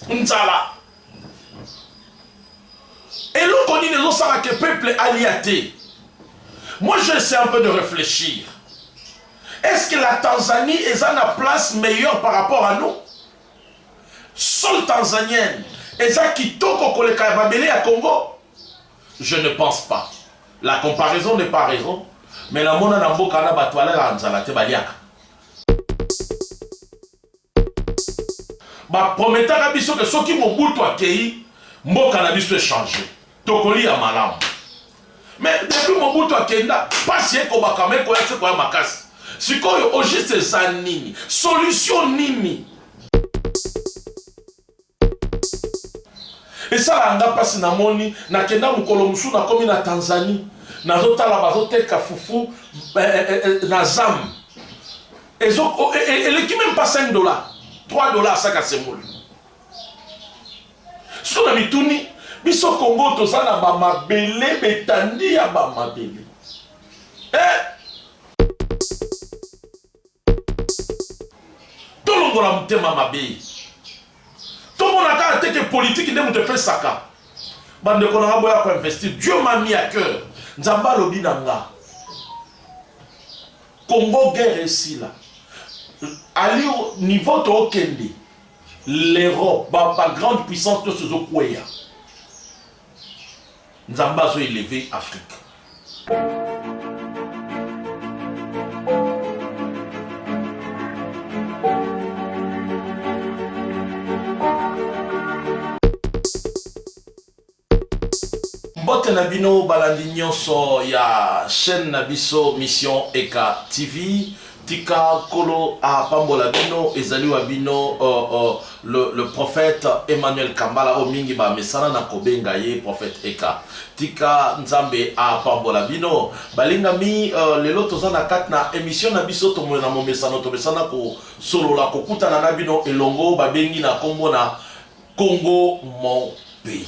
nzala eloko nini ezosala ke peuple alia te moi je sais un peu de réfléchir est ce que la tanzanie eza na place meilleure par rapport à nous sol tanzanienne eza kitoko koleka ya mabele ya congo je ne pense pas la comparaison n'est pas raison mais namona na mboka na bato balalaka nzala te baliaka Ba prometaka biso que soki Mobutu akeyi, mboka na biso echange. Tokoliya malamu. Mais depuis Mobutu akenda, pasi ekobakama ekoya se koya makasi. Sikoyo au juste eza nini? Solution nini? Esalaka nga mpasi na moni na kenda mokolo mosusu na komi na Tanzanie nazo tala bazo teka fufu eh, eh, eh, eh na zam ezo oh, eh, eh, eleki meme pas 5 dollars 3 dollars asaka semoli soki na mituni biso Congo toza na ba mabele betandi ya ba mabele eh tolongola motema mabe tomona kaka te ke politiki nde moto epesaka bandeko na nga boya koinvestir dieu m'a mis à cœur nzambe alobi na nga congo guerre esila ali niveau tookende l'europe bagrande puissance nyonso ezokweya nzambe azo eleve afrique mbote na bino balandi nyonso ya chaîne na biso mission eka tv Tika kolo a pambola bino ezali wa bino uh, uh, le, le prophète Emmanuel Kambala o mingi ba mesana na kobenga ye prophète Eka. Tika Nzambe a pambola bino. Balinga mi uh, lelo toza na kat na emission na biso tomoyo na momesano tomesana ko solola kokutana na bino elongo babengi na kombo na Congo mon pays.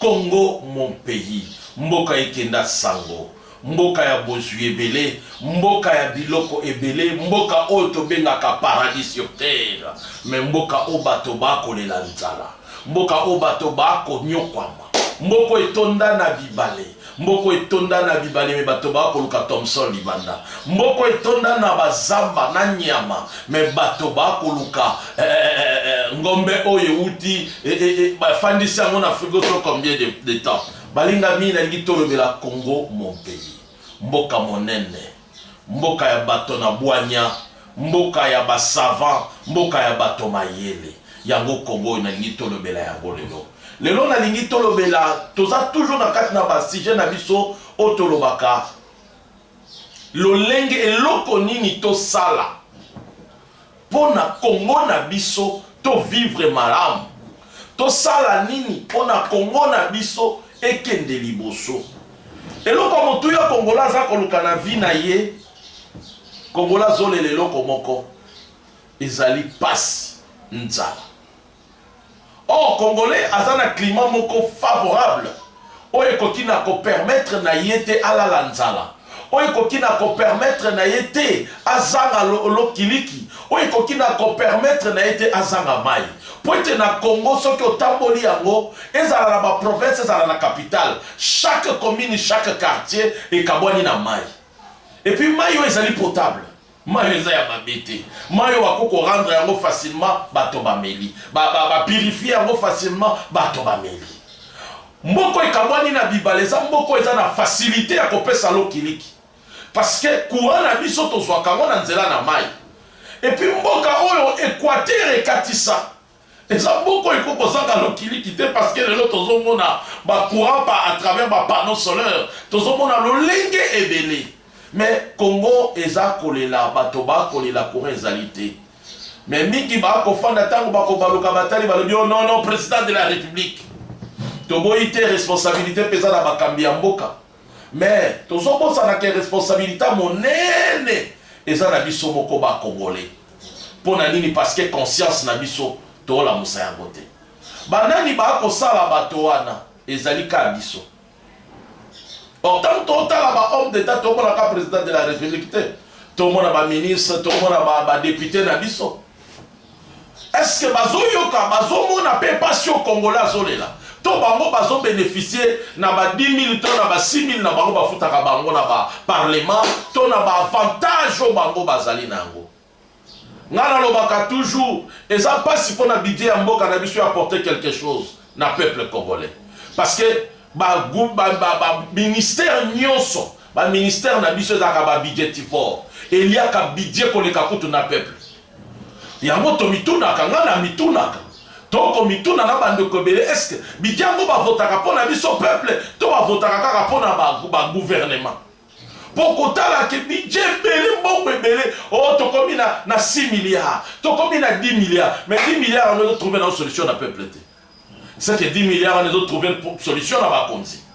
Congo mon pays mboka ekenda sango mboka ya bozwi ebele mboka ya biloko ebele mboka oyo tobengaka paradis sur terre mais mboka oyo bato bakolela nzala mboka oyo bato bakonyokwama mboko etonda na bibale Mboko etonda na bibale me bato baa koluka Thomson libanda. Mboko etonda na bazamba na nyama me bato baa koluka eh, eh, eh, eh, eh ngombe oyo euti eh, eh, eh, bafandisi yango na frigo so combien de, de temps. Balinga mingi nalingi tolobela Congo mon pays, mboka monene Mboka ya bato na bwanya, mboka ya ba savants, mboka ya bato mayele. Yango Congo oyo nalingi tolobela yango lelo. Lelo nalingi tolobela, toza toujours na kati na ba sujet na biso oyo tolobaka lolenge eloko nini tosala Pona Congo na biso to vivre malamu. Tosala nini pona Congo na biso ekende liboso. Eloko ya motuya Congolais aza koluka na vie na ye, Congolais azolela eloko moko, ezali pasi, nzala. Or congolais aza na climat moko favorable oyo ekoki na ko permettre na ye te alala nzala oyo ekoki na ko permettre na ye te azanga lokiliki oyo ekoki na ko permettre na ye te azanga mai mpo ete na congo soki otamboli yango ezala na baprovince ezala na capitale chaque commune chaque quartier ekabwani na mai epuis mai oyo ezali potable Mayi oyo eza ya mabe te. Mayi oyo bakoki ko rendre yango facilement, bato bameli. Ba, ba, ba purifier yango facilement, bato bameli. Mboka oyo ekabwani na bibale eza mboka oyo eza na facilite ya kopesa lokiliki. Parce que courant na biso tozwaka yango na nzela na mayi. Et puis mboka oyo equateur ekatisa. Eza mboka oyo ekoki kozanga lokiliki te parce que lelo tozo mona ba courant pa à travers ba panneaux solaires, tozo mona lolenge ebele mais Congo eza kolela bato ba kolela courant ezali te mais mingi ba kofanda tango bako baluka batali balobi oh non non president de la republique toboyi te responsabilite peza na bakambi ya mboka. Mais tozo bosana ke responsabilita monene eza na biso moko ba congolais pona nini parce que conscience na biso to lamusa yango te ba nani ba kosala bato wana ezali ka biso or tango to tala ba homme d'etat to mona ka president de la republique te to mona ba ministre to mona ba ba depute na biso Est ce que bazo yoka bazo mona pe pasi oyo congolais azo lela? To bango bazo beneficier na ba 10.000 to na ba 6.000 na bango ba futaka bango na ba parlement to na ba avantages oyo bango bazali na yango? Nga nalobaka toujours eza pasi pona budget ya mboka na biso ya apporter quelque chose. na peuple congolais parce que ba ba ba, ba ministère nyonso ba ministère na biso ezalaka ba budgetivore eliaka budget koleka kutu na peuple yango tomitunaka ngai namitunaka tokomituna na bandeko ebele eske bidiango bavotaka mpo na biso peuple to bavotaka kaka mpo na baguvernema ba mpo kotalaka bidje ebele mbongo ebele o oh, tokomi na, na 6 milliard tokomi na 10 milliard mais 10 milliard wana ezotrouve nao solution na peuple te seke 10 milliard wana ezotrouve solution na bakonzi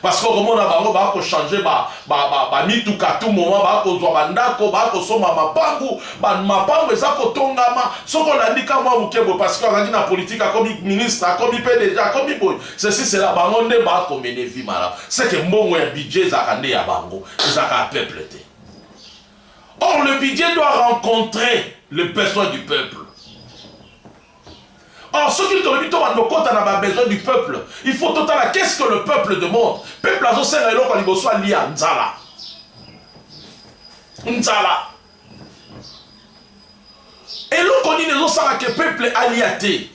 parce que okomona bango bakochange bamituka ba, ba, ba tout moment bakozwa bandako bakosomba mapangu mapangu eza kotongama soki olandi ka mwa moke boye parce que azalaki na politike akomi ministre akomi pdg akomi boye ceci cela bango nde ba ko mene vie malamu ce que mbongo ya budget ezalaka nde ya bango ezalaka ya peuple te or le budget doit rencontrer le besoin du peuple or soki tolobi to bando kota na ba besoin du peuple il faut totala qu'est ce que le peuple demande peuple azosenga eloko ya liboso alia nzala nzala eloko nini ezosala ke peuple alia te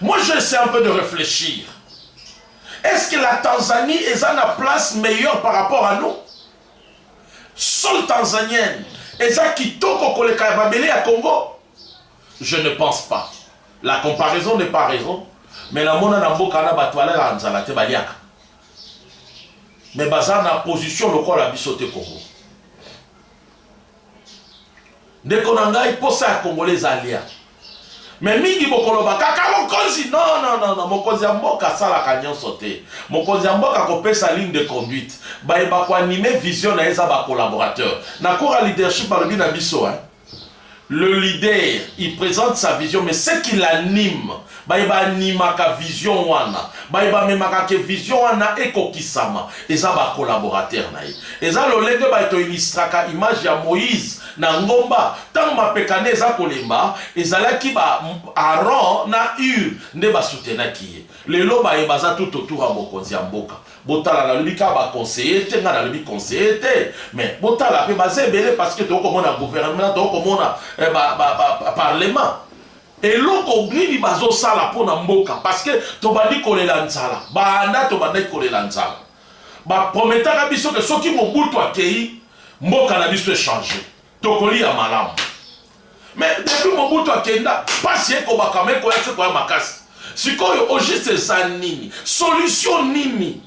moi je essaie un peu de réfléchir est ce que la tanzanie eza na place meilleure par rapport à nous sol tanzanienne eza kitoko koleka ya mabele ya congo je ne pense pas la comparaison n'est pas raison mais namona na mboka na bato balalaka nzala te baliaka mais baza na position lokola biso te congo ndeko na ngai mposa ya kongole eza alia me mingi bokoloba kaka mokonzi nonnono mokonzi ya mboka asalaka nyonso te mokonzi ya mboka akopesa ligne de conduite baye bakoanime vision na ye eza bacolaborateur na coura leadership balobi na biso eh? Le leader il presente sa vision mais ce qu'il anime baye ba animaka vision wana baye bamemaka ke vision wana ekokisama eza ba collaborateur na ye eza lolenge baye to illustraka image ya moïse na ngomba ntango mapeka nde eza kolemba ezalaki ba aron na ure nde basutenaki ye lelo baye baza tout autour ya mokonzi ya mboka Botala nalobi kaka ba conseiller te nga nalobi conseiller te mais botala pe baza ebele parce que tokomona gouvernement tokomona eh, ba, ba, ba, ba, parlement eloko nini bazosala mpo na mboka parce que tobandi kolela nzala banda tobandaki kolela nzala baprometaka biso ke soki mobutu akei mboka na biso echange Tokolia malamu. Mais depuis Mobutu akenda, pasi ekobaka mais koya se koya makasi. Sikoyo au juste eza nini? Solution nini?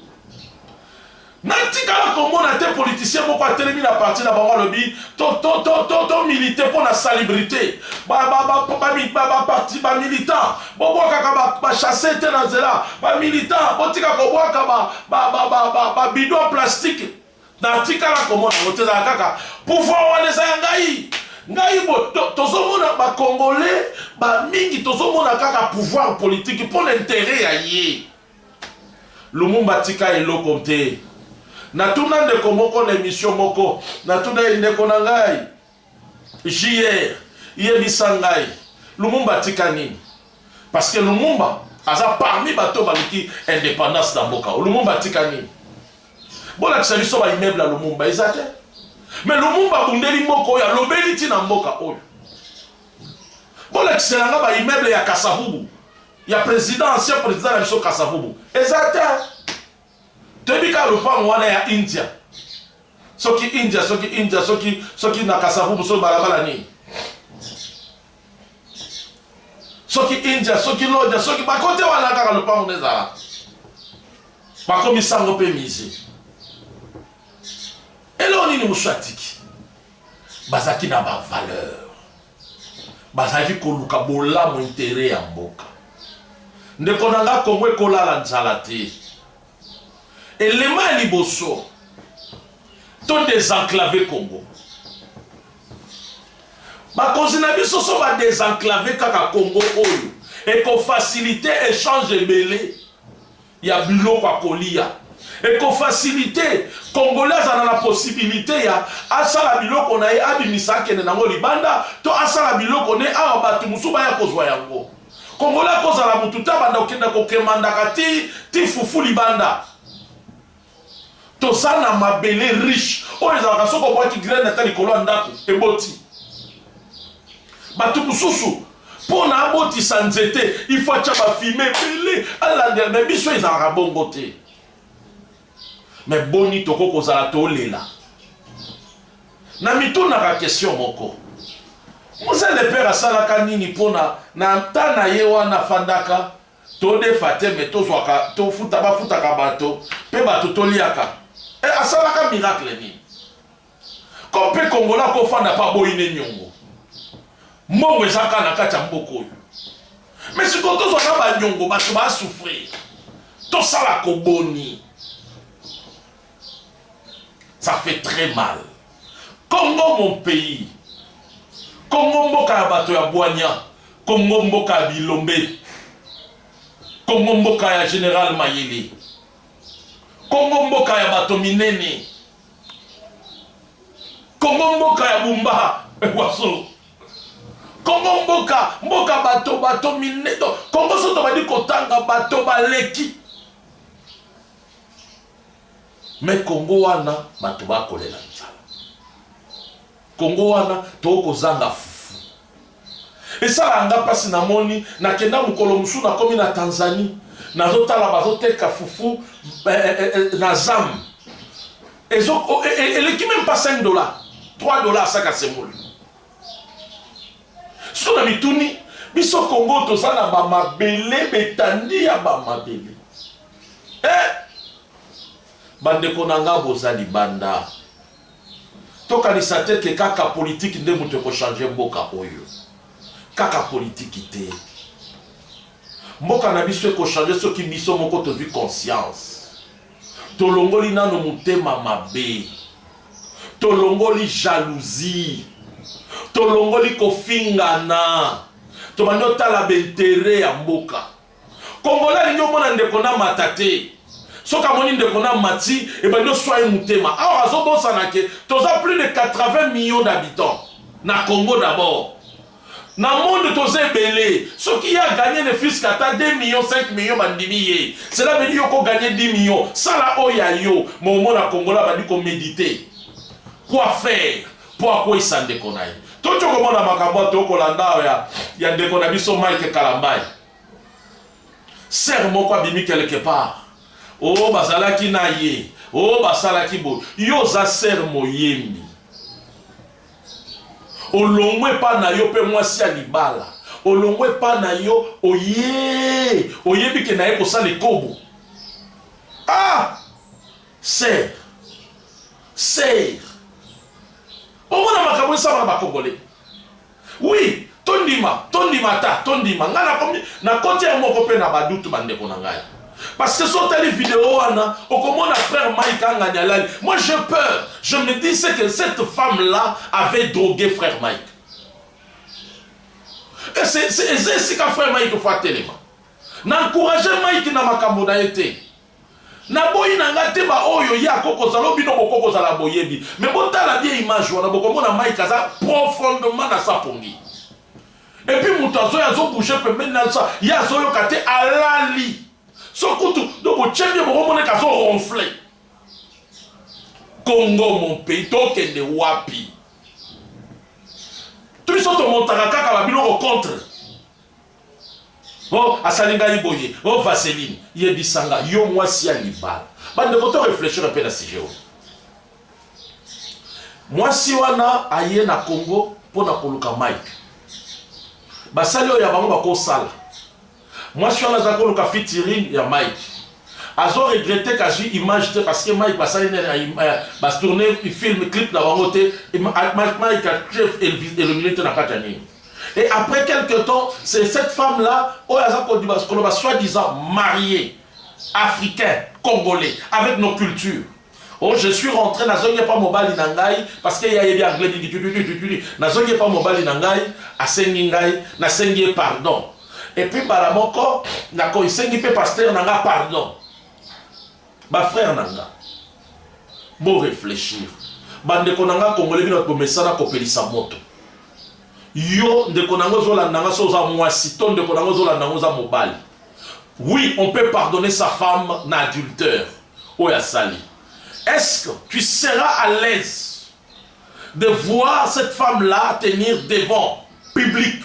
natikala komona te politicien moko atelemi na parti na bango alobi tomilite mpo na salibrité bamilitant bobwakaka bachasse te na nzela bamilitant botika kobwaka babido ya plastike Natikala komona yango te, ezala kaka pouvoir wana eza ya ngai ngai bo tozomona ba congolais ba mingi tozomona kaka pouvoir politique mpo na interet ya ye lumumba tika eloko te natuna ndeko moko na emission moko natuna ye ndeko na ngai JR yebisa ngai Lumumba atika nini? Parce que Lumumba aza parmi bato baluki indépendance na mboka. Lumumba atika nini? Bolakisa biso ba immeuble ya Lumumba eza te. Mais Lumumba abundeli mboka oyo alobeli ti na mboka oyo. Bolakisa nanga ba immeuble ya Kasavubu ya président ancien président na biso Kasavubu eza te. Toyebi kaka lopango wana ya India. Soki India, soki India, soki soki na Kasavubu, soki balabala nini. Soki India, soki Lodja, soki bakote wana kaka lopango nde ezalaka. Bakomi sango mpe musée. Eloko nini mosusu atiki? Bazalaki na ba valeur. bazalaki koluka bolamu intere ya mboka. Ndeko na nga, Kongo ekolala nzala te. Elema ya liboso to desenclave Kongo. Bakonzi na biso so ba desenclave kaka Kongo oyo ekofasilite echange ebele ya biloko ya koliya eko facilite congolais azala na possibilite ya asala biloko na ye abimisa akende nango libanda to asala biloko ne awa bato mosusu baya kozwa yango congolais akozala motu te abanda kokenda kokemandaka ti ti fufu libanda Toza na mabele riche oyo ezalaka soki obwaki graine ata likolo ya ndako eboti. Bato mosusu mpo na abotisa nzete il faut atya bafime ebele alandela, me biso ezalaka bongo te. Me boni tokoki kozala tolela? Na mitunaka question moko, Mzee Lepere asalaka nini mpo na na nta na ye wana afandaka To defa te mais tozwaka to futa ba futaka bato pe bato to liaka eh asalaka miracle nini comme pe kongola ko fanda pa boyi ne niongo mbongo eza ka na kati ya mboka oyo mais sikoyo tozwa na ba niongo bato ba souffrir tosala ko boni Ça fait très mal. Congo mon pays. Congo mboka ya bato ya bwanya. Congo mboka ya bilombe. Congo mboka ya General Mayele. Congo mboka ya bato minene. Congo mboka ya Bumba Waso. Congo mboka mboka bato bato minene. Congo soto badi kotanga bato baleki. Mais Congo wana bato bakolela nzala. Congo wana tokozanga fufu. Esala nga mpasi namoni nakenda mokolo mosusu nakomi na Tanzanie nazotala bazoteka fufu eh, eh, eh, eh na zam ezo oh, eh, eh, eleki meme pas 5 dollars 3 dollars saka semoule so na mituni biso Congo toza na bamabele betandi ya bamabele Eh! Bandeko na nga boza libanda. Tokanisa te ke kaka politiki nde moto ekochange mboka oyo. Kaka politiki te. Mboka na biso ekochange soki biso moko tozwi conscience. Tolongoli nano motema mabe. Tolongoli jalousie. Tolongoli kofingana. Tobandi otala baintere ya mboka. Congolais alingi omona ndeko na mata te. Soki amoni ndeko na mati, ebandi oswa ye motema. Or azobosana ke toza plus de 80 millions d'habitants na Congo d'abord. Na monde toza ebele. Soki ye a gagner ne fils qu'ata 2 millions, 5 millions bandimi ye. Cela veut dire yo ko gagner 10 millions. Sala oyo ya yo. Mais omona congolais abandi ko mediter. Quoi faire? mpo akweisa ndeko na ye. Toki okomona makambo oyo tokolanda awa ya, ya ndeko na biso Mike Kalambayi. Sere moko abimi quelque part, o oh, bazalaki na ye, o oh, basalaki boye. Yo oza sere moyembi, olongwe epa na yo mpe mwasi ya libala, olongwe epa na yo oye, oyebi ke na ye kosala ekobo ah! Sir. Sir. Omona makambo esama na bakongole. Oui, tondima, tondima ata, tondima. Nga na komi, na koti ya moko pe na badutu bandeko na ngai. Parce que sur telle vidéo, Anna, au comment la frère Mike Anganyalal, moi j'ai peur. Je me dis c'est que cette femme-là avait drogué frère Mike. Et c'est c'est qu'un frère Mike faut tellement. N'encourager Mike na makambo na été. Na boyi na nga te ba oyo ye ako kozala oyo bino boko kozala boyebi mais botala bien image wana bokomona Mike aza profondement na sa pongi et puis moto azoya azo bouger pembeni na sa ye azoyoka te alali so kutu donc botye bien bokomoneka azo ronfler Congo mon pays tokende wapi biso tomontaka kaka babiloko contre o oh, asali ngai boye o oh, vaseline yebisanga yo mwasi ya libala bandeko to reflechire mpe na sujet oyo mwasi wana aye na congo mpo na koluka mai basali oyo ya bango bakosala mwasi wana azali koluka fitirine ya mike azo regrette kazwi image te parce que mike basali nene bastourne film clip na bango te mike elomine te na kati ya nini Et après quelque temps, c'est cette femme-là, oh, Koloba, soi-disant mariée, africain, congolais, avec nos cultures. Oh, je suis rentré, nazongi pas mobali na ngai, parce qu'il y a eu anglais, nazongi pas mobali na ngai, asengi ngai, nasengi pardon. Et puis, balamoko, nako isengi pe pasteur na nga pardon. Ba frère na nga, bo reflechir. Ba ndeko na nga Congolais, bino bomesana kopelisa moto. Yo ndeko na nga ozolanda nga, so oza mwasi to ndeko na nga ozolanda nga oza mobali. Oui, on peut pardonner sa femme na adultère oyo asali. Est-ce que tu seras à l'aise de voir cette femme-là tenir devant public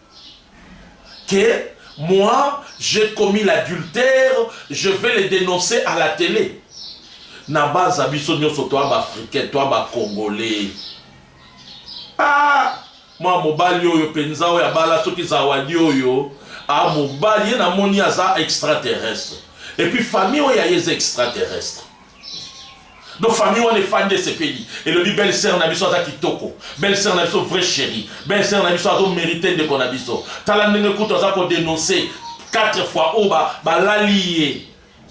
que moi j'ai commis l'adultère je vais le dénoncer à la télé na baza biso nyonso toa baafricain toa bacongolais ah, mwa mobali oyo mpenza oyo abala soki zawadi oyo a ah, mobali ye namoni aza extraterrestre epuis famille oyo aye eza extraterrestre donc famille wana efandi esepeli elobi belle sœur na biso aza kitoko belle sœur na biso vrai chéri belle sœur na biso azo mérite ndeko na biso tala ndenge kutu aza kodenonce quatre fois oyo balali ye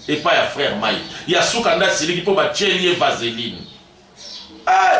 epai ya frère mai ya suka nde asiliki mpo batyeli ye vaseline eh!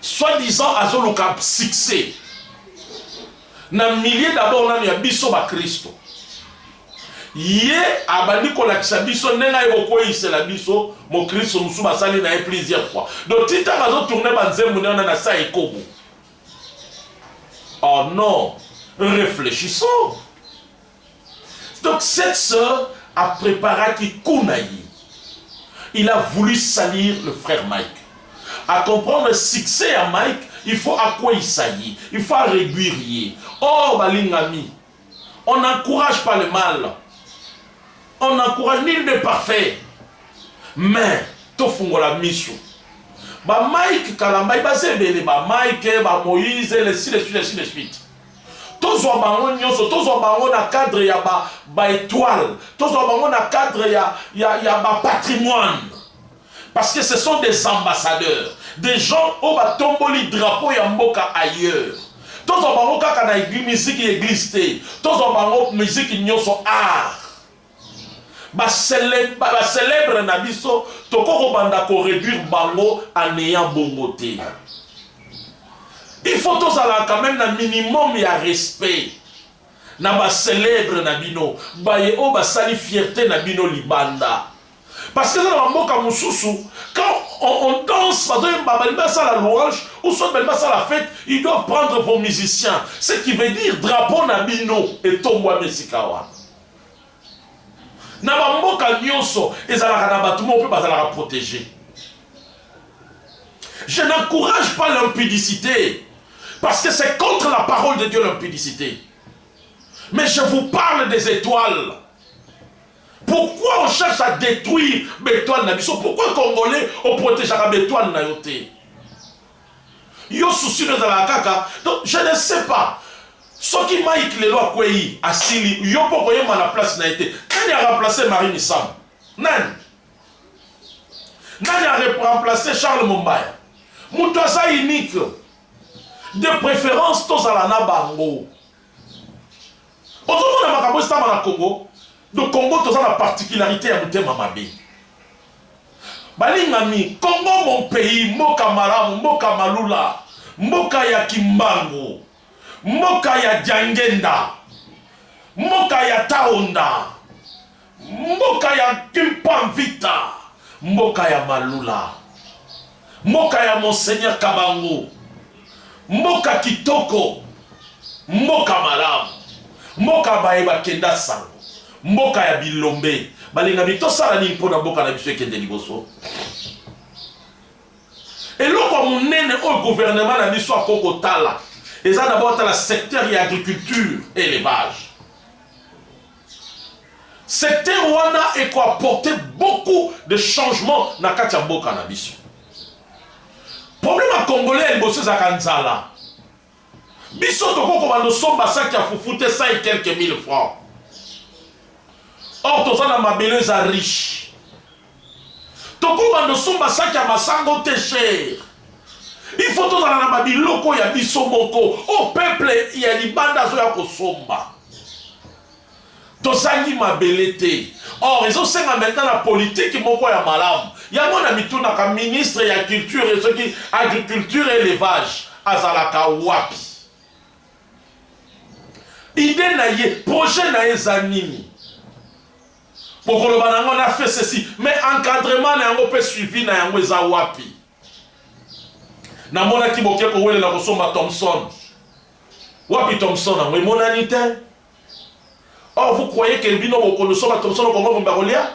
Soit disant azoluka succès na milieu d'abord nanu ya biso ba Kristo. Ye abandi kolakisa biso ndenge aye kokweyisela biso mokristo mosusu basali na ye plusieurs fois. Donc ti ntango azotourne banzembo ne wana na sa ekobo. Oh non, réfléchissons. Donc cette sœur a prepara ki kuna ye. Il a voulu salir le frère Mike. A comprendre succès ya Mike, il faut akweyisa ye, il faut réduire ye. Or oh, balingami, on n'encourage pas le mal. On n'encourage nul n'est parfait. Mais tofungola miso. Ba Mike Kalambay baza ebele, ba Mike, ba Moïse, les suite, les suite, les suite. Tozwa bango nyoso, tozwa bango na cadre ya ba, ba etoiles, tozwa bango na cadre ya, ya, ya ba patrimoines. Parce que ce sont des ambassadeurs, des gens oyo batomboli drapeau ya mboka ailleurs. Tozwa bango kaka na miziki ya eglise te, tozwa bango miziki nyoso art. Ba celèbres na biso toko kobanda ko réduire bango à néant bongo te. Il faut tozala quand même na minimum ya respect na ba celèbres na bino baye oyo basali fierté na bino libanda. Parce que dans la mboka mususu quand on, on danse bazoyemba balingi basala louange ou soit balingi basala fête ils doivent prendre vos musiciens ce qui veut dire drapeau na bino etombwami esika wana na bamboka nyonso ezalaka na bato moko mpe bazalaka protege je n'encourage pas l'impudicité parce que c'est contre la parole de dieu l'impudicité mais je vous parle des étoiles pourquoi on cherche à détruire betoile na biso pourquoi congolais oprotegeaka betoile na yo te Yo souci no ezalaka kaka donc je ne sais pas soki Mike lelo akweyi asili yo mpo okoyemba na place na ye te nani a remplacer Marie Misamu nani nani a remplacer Charles Mombaya moto aza unique de préférence tozala na bango Ozo mona makambo ezo salama na Congo donc Congo toza na particularite ya motema mabe balingami Congo mon pays mboka malamu mboka malula mboka ya kimbangu mboka ya diangenda mboka ya taonda Mboka ya Kimpa Mvita, mboka ya Malula, mboka ya Monseigneur Kabangu, mboka kitoko, mboka malamu, mboka baye bakenda sango, mboka ya bilombe. Balingami tosala nini mpo na mboka na biso ekende liboso? eloko ya monene oyo guvernema na biso akoki kotala eza dabord atala secteur ya agriculture elevage Secteur wana eko apporter beaucoup de changement na kati ya mboka na biso. Problème ya congolais ya liboso ezalaka nzala. Biso toko kobanda osomba saki ya fufu te 100 et quelques mille francs. Or toza na mabele eza riche. Toko bando somba sac ya masango te cher. Il faut tozala na ba biloko ya biso moko. Oh peuple ya libanda azoya kosomba. Tozangi mabele te. Or ezosenga maintenant na politique moko ya malamu. Yango na mitunaka ministre ya culture et soki agriculture et élevage azalaka wapi? Idée na ye, projet na ye eza nini? Bokoloba na yango na fait ceci, mais encadrement na yango pe suivi na yango eza wapi? Namonaki boke kowelela kosomba Thomson. Wapi Thomson yango emonani te? Or vous croyez que bino bokolosomba Thomson okongo bomba kolia?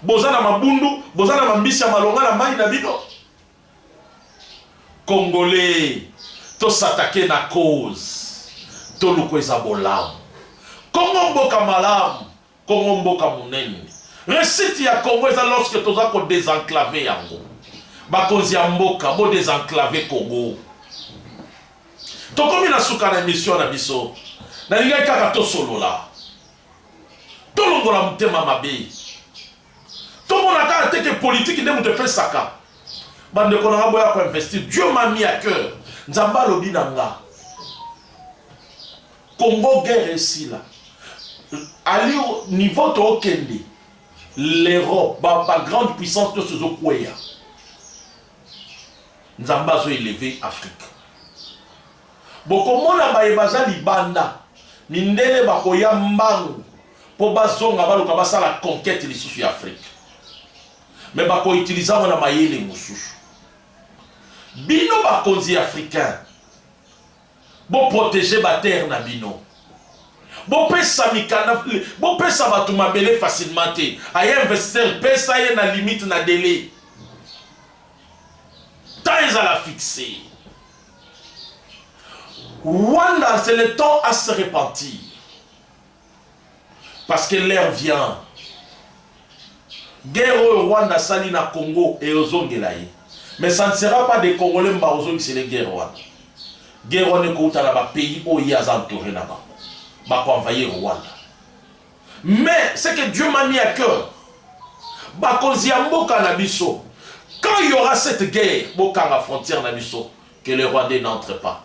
Boza na mabundu, boza na mambisi ya malonga na mai na bino. Congolais, tosatake na cause, toluku eza bolamu. Kongo mboka malamu. Congo mboka munene. Reussite ya Congo eza lorsque toza ko desenclaver yango. Bakonzi ya mboka bo desenclaver Congo. Tokomi na suka na emission na biso. Nalingaki kaka tosolola. Tolongola motema mabe. Tomona kaka te ke politiki nde moto epesaka. Bandeko na nga boya ko investir. Dieu m'a mis à cœur. Nzambe alobi na nga. Congo guerre esila ali niveau tookende l'Europe ba, ba grande puissance nyonso ezokweya nzambe azo eleve afrique bokomona baye baza libanda mindele bakoya mbangu mpo bazonga baluka basala conquete lisusu ya afrique me bakoutilize yango na mayele mosusu bino bakonzi africain Bo proteger ba terres na bino. Bopesa mikanda, bopesa bato mabele facilement te. Aya investisseur, pesa ye na limite na delai. Temps ezala fixe. Rwanda, c'est le temps à se repentir. parce que l'heure vient guerre oyo Rwanda asali na Congo eozongela ye mais ça ne sera pas des Congolais mba ozongisele guerre wana guerre wana ekouta na ba pays oyo ye aza entouré na bango bako envahir Rwanda mais c'est que Dieu m'a mis à cœur bakonzi ya mboka na biso quand il y aura cette guerre bokanga frontière na biso que les Rwandais n'entrent pas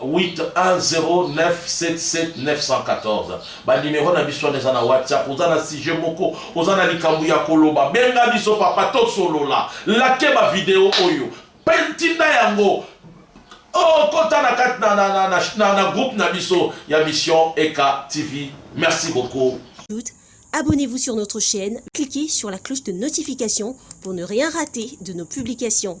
810977914 ba numero na biso wana eza na whatsapp oza na sujet moko oza na likambo ya koloba benga biso papa tosolola lake bavideo oyo mpe ntinda yango okota oh, na kati na, na, na, na, na, na groupe na biso ya mission eka tv merci beaucoup Abonnez-vous sur notre chaîne, cliquez sur la cloche de notification pour ne rien rater de nos publications.